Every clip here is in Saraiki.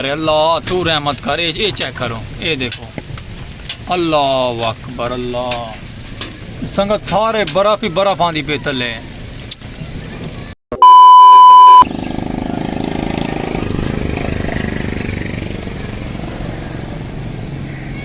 ارے اللہ تو رحمت کر اے اے چیک کرو اے دیکھو اللہ اکبر اللہ سنگت سارے برف ہی برف آندی پہ تلے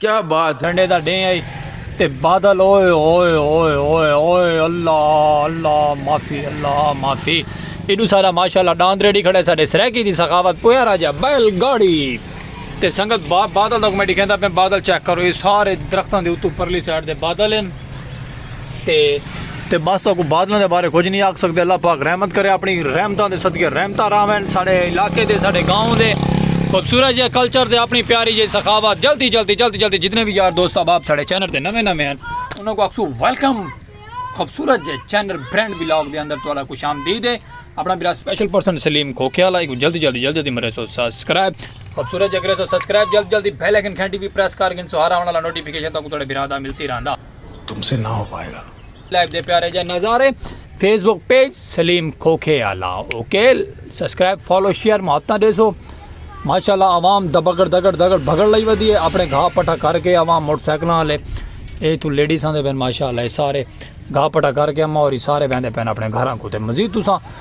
کیا بات ہے۔ ٹھنڈے دا ڈینہہ ہئی تے بادل اوئے ہوئے ہوئے ہوئے ہوئے اللہ اللہ معافی اللہ معافی ایڈو سارا ماشاءاللہ ڈاند ریڈی کھڑے ساڈے سرائیکی دی سخاوت پیارا جیا بیل گاڑی تے سنگت بادل دا میں ڈکھیندا پیاں بادل چیک کرو اے سارے درختاں دے اتوں پرلی سائیڈ دے بادل ہن۔ تے تے بس تہاکوں بادلاں دے بارے کچھ نہیں آکھ سکدے اللہ پاک رحمت کرے اپنی رحمتاں دے صدقے رحمتاں راوین ساڈے علاقے دے ساڈے گاؤں دے خوبصورت جے کلچر دے اپنی پیاری جے سخاوت جلدی جلدی جلدی جلدی جتنے بھی یار دوست احباب ساڈے چینل تے نویں نویں ہیں انہاں کو اکسو ویلکم خوبصورت جے چینل برینڈ بلاگ دے اندر تہاڈا خوش آمدید ہے اپنا میرا سپیشل پرسن سلیم کھوکھے والا کو جلدی جلدی جلدی جلدی مرے سو سبسکرائب خوبصورت جگرے سو سبسکرائب جلد جلد دی بیل آئیکن گھنٹی بھی پریس کر گن سو ہر آون والا نوٹیفیکیشن تاکو تھوڑے بھرا دا ملسی رہندا تم سے نہ ہو پائے گا لائف دے پیارے جے نظارے فیس بک پیج سلیم کھوکھے آلا اوکے سبسکرائب فالو شیئر محبتہ دے سو ماشاءاللہ عوام دبگڑ دگڑ دگڑ بھگڑ لئی ودی ہے اپنے گھا پٹھا کر کے عوام موٹر سائیکل والے اے تو لیڈیز آندے پین ماشاءاللہ اے سارے گھا پٹھا کر کے اما اور سارے ویندے پین اپنے گھراں کو تے مزید تساں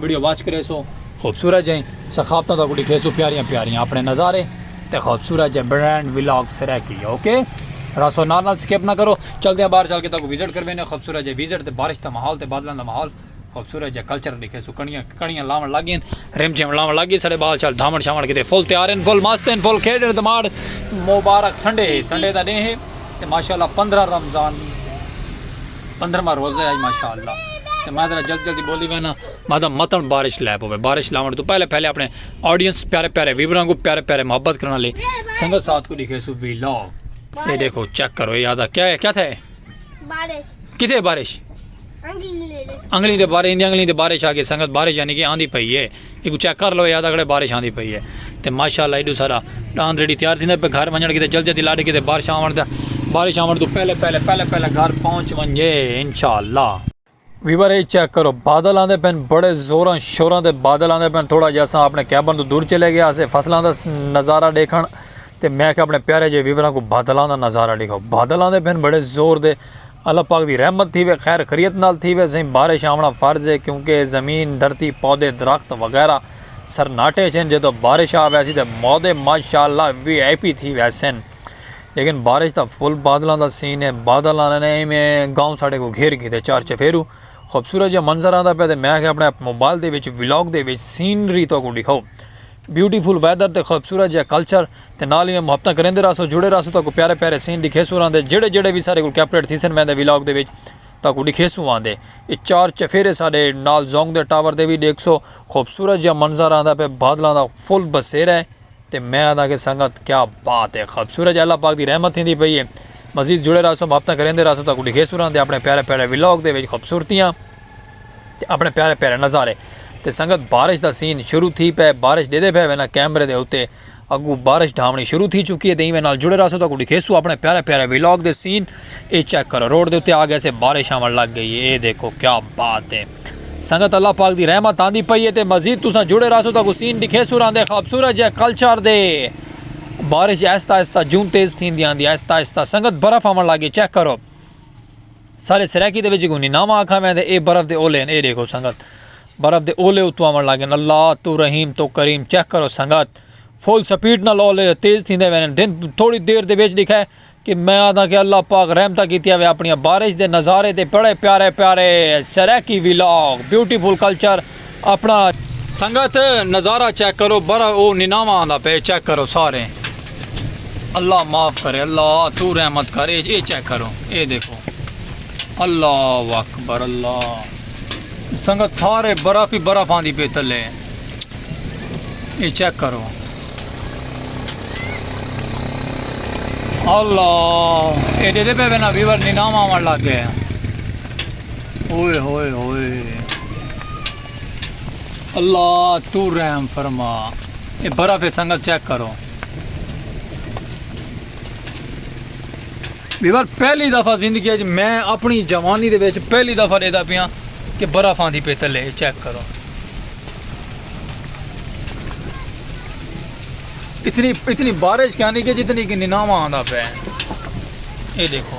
ویڈیو واچ کریسو خوبصورت جئیں سخاوتاں تہاکوں ڈکھیسوں پیاریاں پیاریاں اپنے نظارے تے خوبصورت جئیں برانڈ ولاگ سرائیکی اوکے راسو نال نال سکپ نہ کرو چلدیاں باہر چل کے تہاکوں وزٹ کروینے خوبصورت جئیں وزٹ تے بارش دا ماحول تے بادلاں دا ماحول خوبصورت جئیں کلچر ڈکھیسوں کڑیاں کڑیاں لاون لگ گئین رم جھم لاون لگ گئے ساڈے بال چال دھاون شاون کیتے فل تیار ہیں فل مست ہیں فل کھیڈن تے ماڑ مبارک سنڈے ہے سنڈے دا ڈینہہ ہے تے ماشاءاللہ 15 رمضان پندرواں روزہ ہے ماشاءاللہ تے میں ذرا جلدی جلدی بولی وینا میں دا متن بارش لے پوے بارش لاون تو پہلے پہلے اپنے آڈینس پیارے پیارے ویوراں کو پیارے پیارے محبت کرنا لے سنگت ساتھ کو لکھے سو وی لو اے دیکھو چیک کرو اے یادا کیا ہے کیا تھے بارش کتے بارش انگلی دے بارے اندی انگلی دے بارش آ کے سنگت بارش یعنی کہ آندھی پئی ہے ایکوں چیک کر لو یاد اگڑے بارش آندی پئی ہے تے ماشاءاللہ ایڈو سارا ڈاند ریڈی تیار تھیندا پہ گھر ونجن کیتے جلدی جلدی لاڈے کیتے بارش آون دا بارش آون تو پہلے پہلے پہلے پہلے گھر پہنچ ونجے انشاءاللہ ویور اے چیک کرو بادل آندے پین بڑے زوراں شوراں دے بادل آندے پین تھوڑا جے اساں اپنے کیبن تو دور چلے گیا اسے فصلاں دا نظارہ دیکھن تے میں کہ اپنے پیارے جے ویوراں کو بادلاں دا نظارہ دیکھو بادل آندے پین بڑے زور دے اللہ پاک دی رحمت تھیوے خیر خریت نال تھیوے سئیں بارش آوݨا فرض ہے کیونکہ زمین دھرتی پودے درخت وغیرہ سرناٹے اچ ہن جدوں بارش آ ویسی تے مودے ماشاءاللہ وی آئی پی تھی ویسن لیکن بارش تاں فل بادلاں دا سین ہے بادل آندے نے ایویں گاؤں ساڈے کوں گھیر گھیدے چار چفیرو خوبصورت جیہا منظر آندا پیا تے میں آکھیا اپݨے موبائل دے وچ ولاگ دے وچ سینری تہاکوں ݙکھاؤ۔ بیوٹی فل ویدر تے خوبصورت جیہا کلچر تے نال ایویں محبتاں کریندے رہسوں جڑے رہسوں تہاکوں پیارے پیارے سین ڈکھیسوں راندے جیہڑے جیہڑے وی ساڈے کول کیپریٹ تھیسن ویندے ولاگ دے وچ تہاکوں ڈکھیسوں آندے ایہ چار چفیرے ساڈے نال زونگ دے ٹاور دے وی ڈیکھسو خوبصورت جیہا منظر آندا پے بادلاں دا فل بسیرا ہے تے میں آنداں کہ سنگت کیا بات ہے خوبصورت جیہا اللہ پاک دی رحمت تھیندی پئی ہے مزید جڑے رہسوں محبتاں کریندے رہسوں تہاکوں ڈکھیسوں راندے اپنے پیارے پیارے ولاگ دے وچ خوبصورتیاں تے اپݨے پیارے پیارے نظارے تے سنگت بارش دا سین شروع تھی پئے بارش ݙیدھے پئے وینا کیمرے دے اتے اڳوں بارش ڈھاوݨی شروع تھی چکی ہے تے ایویں نال جڑے رہسو تاکوں ݙکھیسو اپݨے پیارے پیارے ولاگ دے سین اے چیک کرو روڈ دے اتے آ گئے سے بارش آوݨ لڳ ڳئی ہے اے ݙیکھو کیا بات ہے سنگت اللہ پاک دی رحمت آندی پئی ہے تے مزید تساں جڑے رہسو تاکوں سین ݙکھیسو راندے خابصورت جئے کلچر دے بارش آہستہ آہستہ جوں تیز تھیندی آندی آہستہ آہستہ سنگت برف آوݨ لڳ ڳئی چیک کرو۔ سارے سرائیکی دے وچ کونی ناواں آکھاں میں تے اے برف دے اولے ہن اے ڈیکھو سنگت برف دے اولے اتو آون لگ گن اللہ تو رحیم تو کریم چیک کرو سنگت فل سپیڈ نال اولے تیز تھیندے وے نن دن تھوڑی دیر دے وچ ڈیکھے کہ میں آدھا کہ اللہ پاک رحمتہ کیتیا وے اپنی بارش دے نظارے تے بڑے پیارے پیارے سرائیکی ولاگ بیوٹیفل کلچر اپنا سنگت نظارہ چیک کرو برا او نناوا آندا پے چیک کرو سارے اللہ معاف کرے اللہ تو رحمت کر اے اے چیک کرو اے دیکھو اللہ اکبر اللہ سنگت سارے برف ہی برف آندی پے تلے اے چیک کرو اللہ اے دے دے پے بنا ویور نناوا آن لگ گئے ہوئے ہوئے ہوئے اللہ تو رحم فرما اے برف ہے سنگت چیک کرو بیور پہلی دفعہ زندگی اج میں اپنی جوانی دے وچ پہلی دفعہ دیدا پیاں کہ برف آندی پہ تلے چیک کرو اتنی اتنی بارش کہانی کہ جتنی کہ نیناوا آندا پہ اے دیکھو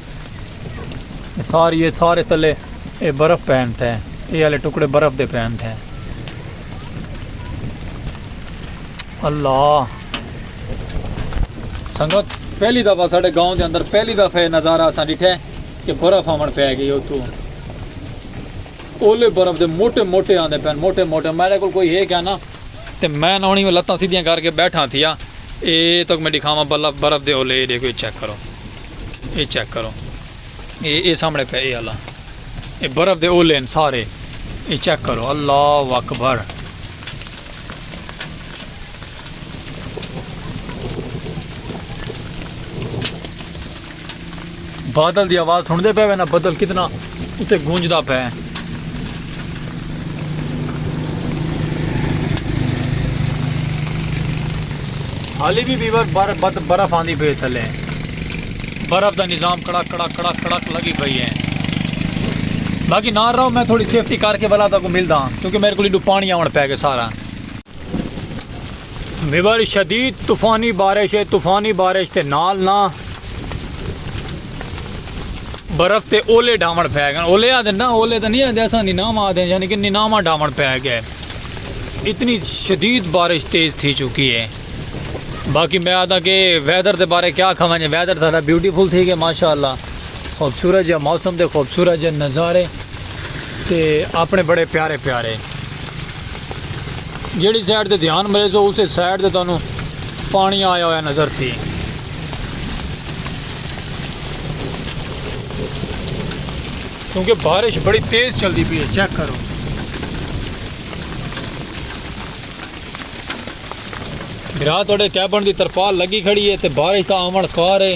ساری اے سارے تلے اے برف پین تھے اے والے ٹکڑے برف دے پین تھے اللہ سنگت پہلی دفعہ ساڑے گاؤں دے اندر پہلی دفعہ نظارہ سا ڈٹھے کہ برف آمن پہ گئی اتو اولے برف دے موٹے موٹے آندے پین موٹے موٹے میرے کو کوئی ہے کیا نا تے میں نونی میں لتاں سیدھیاں کر کے بیٹھا تھیا اے تک میں دکھاواں برف دے اولے دیکھو چیک کرو اے چیک کرو۔ اے اے سامنے پہ اے اللہ۔ اے برف دے اولے ہیں سارے۔ اے چیک کرو اللہ اکبر۔ بادل دی آواز سن دے پہ وینا بدل کتنا۔ اتے گونجدا پئے۔ ہالی وی بیور بد برف آندی پئی اے تھلے برف دا نظام کڑک کڑک کڑک کڑک لگی پئی اے باقی نال رہو میں تھوڑی سیفٹی کر کے بلا تاکو ملدا کیونکہ میرے کو لیڈو پانی آون پے گے سارا میور شدید طوفانی بارش ہے طوفانی بارش تے نال نہ برف تے اولے ڈھاون پی گئے اولے آدھے نہ اولے تو نہیں آدھے ایسا نیناما آدھے یعنی کہ نیناما ڈھاون پی گئے اتنی شدید بارش تیز تھی چکی ہے باقی میں آدھا کہ ویدر دے بارے کیا کھاواں جی ویدر تھا بیوٹیفل تھی گئے ماشاءاللہ خوبصورت جہاں موسم دے خوبصورت جہاں نظارے تے اپنے بڑے پیارے پیارے جیڑی سائیڈ تے دھیان مریسو اسے سائیڈ تے تانوں پانی آیا ہویا نظر سی کیونکہ بارش بڑی تیز چلتی پی ہے چیک کرو برا تھوڑے کیبن دی ترپال لگی کھڑی ہے تے بارش تا آمن کار ہے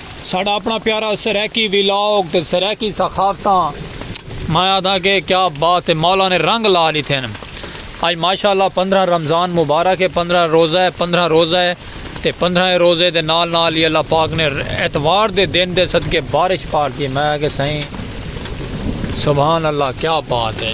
ساڈا اپنا پیارا سرائیکی ویلاگ تے سرائیکی ثقافتاں میں آدھا کہ کیا بات ہے مولا نے رنگ لا لیتے ہیں آج ماشاءاللہ پندرہ رمضان مبارک ہے پندرہ روزہ ہے پندرہ روزہ ہے تے پندرہ روزے دے نال نال ہی اللہ پاک نے اتوار دے دن دے صدقے بارش پار دی میں آگے سائیں سبحان اللہ کیا بات ہے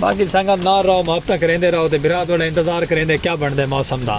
باقی سنگت نال رہو محبتاں کریندے رہو تے بھرا تہاڈا انتظار کریندے کیا بنڑدے موسم دا۔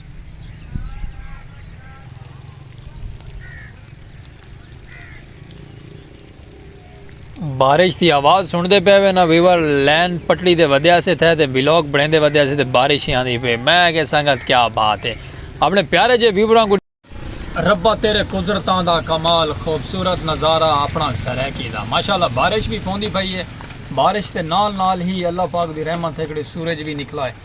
بارش دی آواز سنڑدے پے وے نا ویور لین پٹڑی دے ودیا سے تھے تے ویلوگ بڑھیندے ودیا سے تے بارش ہی آندی پے میں کہ سنگت کیا بات ہے اپنے پیارے جے ویوراں کو ربا تیرے قدرتاں دا کمال خوبصورت نظارہ اپنا سرائیکی دا ماشاءاللہ بارش بھی پوندی پئی ہے بارش دے نال نال ہی اللہ پاک دی رحمت ہے کڑی سورج بھی نکلا ہے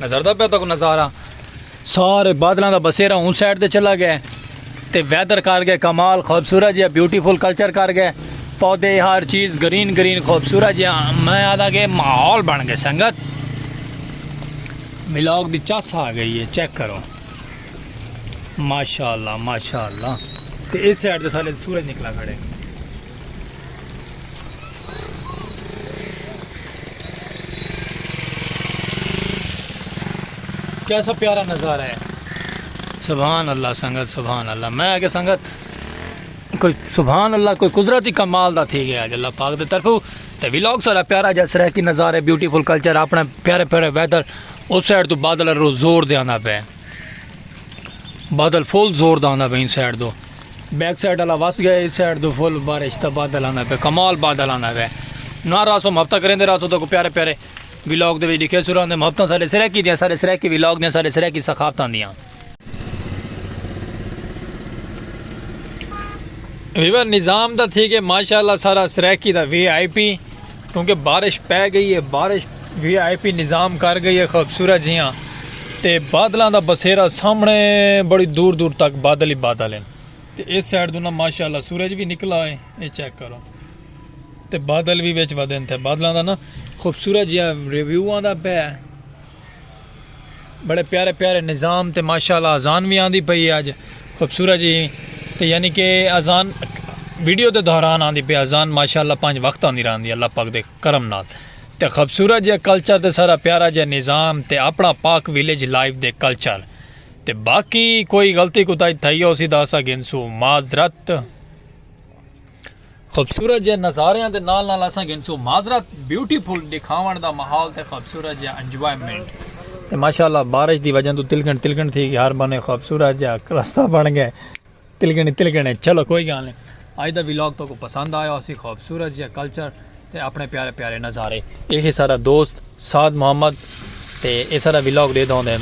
نظر دا پہ تک نظارہ سارے بادلاں دا بسیرا اون سائیڈ تے چلا گئے تے ویدر کر گئے کمال خوبصورت جہاں بیوٹیفل کلچر کر گئے پودے ہر چیز گرین گرین خوبصورت جہاں میں آدھا کہ ماحول بن گئے سنگت ملاگ دی چس آ گئی ہے چیک کرو ماشاءاللہ ماشاءاللہ تے اس سائیڈ تے سارے سورج نکلا کھڑے کیسا پیارا نظارہ ہے سبحان اللہ سنگت سبحان اللہ میں آگے سنگت کوئی سبحان اللہ کوئی قدرتی کمال دا تھی گیا اللہ پاک دے طرف تے ویلاگ سارا پیارا جا سرہ کی نظارے بیوٹیفل کلچر اپنے پیارے پیارے ویدر اس سائڈ تو بادل رو زور دے آنا پہ بادل فل زور دا آندا پیا ان سائیڈ دو بیک سائیڈ والا وس گیا اس سائیڈ دو فل بارش دا بادل آندا پیا کمال بادل آندا پیا نہ راسو ہفتہ کریندے راسو تو پیارے پیارے ولاگ دے وچ لکھے سراں دے ہفتہ سارے سرکی دیاں سارے سرکی ولاگ دیاں سارے سرکی ثقافتاں دیاں ویور نظام دا تھی کہ ماشاءاللہ سارا سرکی دا وی آئی پی کیونکہ بارش پے گئی ہے بارش وی آئی پی نظام کر گئی ہے خوبصورت جیاں تے بادلاں دا بسیرا سامنے بڑی دور دور تک بادل ہی بادل ہیں تے اس سائڈ دونا ماشاءاللہ سورج بھی نکلا ہے اے چیک کرو تے بادل بھی وچ ودن تھے بادلاں دا نا خوبصورت جیاں ریویو آندا پہ ہے بڑے پیارے پیارے نظام تے ماشاءاللہ اذان وی آندی پئی ہے اج خوبصورت جی تے یعنی کہ اذان ویڈیو دے دوران آندی پئی اذان ماشاءاللہ پنج وقت آندی راندی اللہ پاک دے کرم نال تے خوبصورت جے کلچر تے سارا پیارا جے نظام تے اپنا پاک ویلیج لائیو دے کلچر تے باقی کوئی غلطی کوتاہی تھئی ہو سی دا اسا گھنسو معذرت خوبصورت جئے نظاریاں دے نال نال اساں گھنسوں معذرت بیوٹی فل ڈکھاون دا ماحول تے خوبصورت جئے انجوائمنٹ تے ماشاءاللہ بارش دی وجہ توں تلگن تلگن تھی گئے ہر بنے خوبصورت جئے رستہ بن گئے تلگن تلگن ہے چلو کوئی گال نہیں آج دا ویلاگ تو کو پسند آیا اسی خوبصورت جئے کلچر تے اپنے پیارے پیارے نظارے ایک سارا دوست سعد محمد تے اے سارا ویلاگ دے دوں دے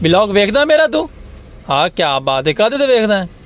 ویلاگ ویکھ دا میرا تو ہاں کیا بات ہے کدے دے ویکھ دا ہے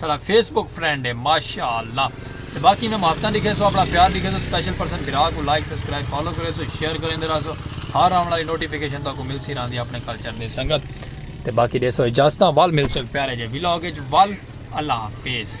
ساڑا فیس بک فرینڈ ہے ماشاءاللہ تے باقی میں محبتاں ڈکھے سو اپنا پیار ڈکھے سو سپیشل پرسن بھرا کو لائک سبسکرائب فالو کرے سو شیئر کریندے رہا سو ہر آن والی نوٹیفیکیشن تاکو مل سی راندی اپنے کلچر دے سنگت تے باقی دے سو اجازتاں وال مل سو ایک پیارے جے ویلاگ اچ وال اللہ حافظ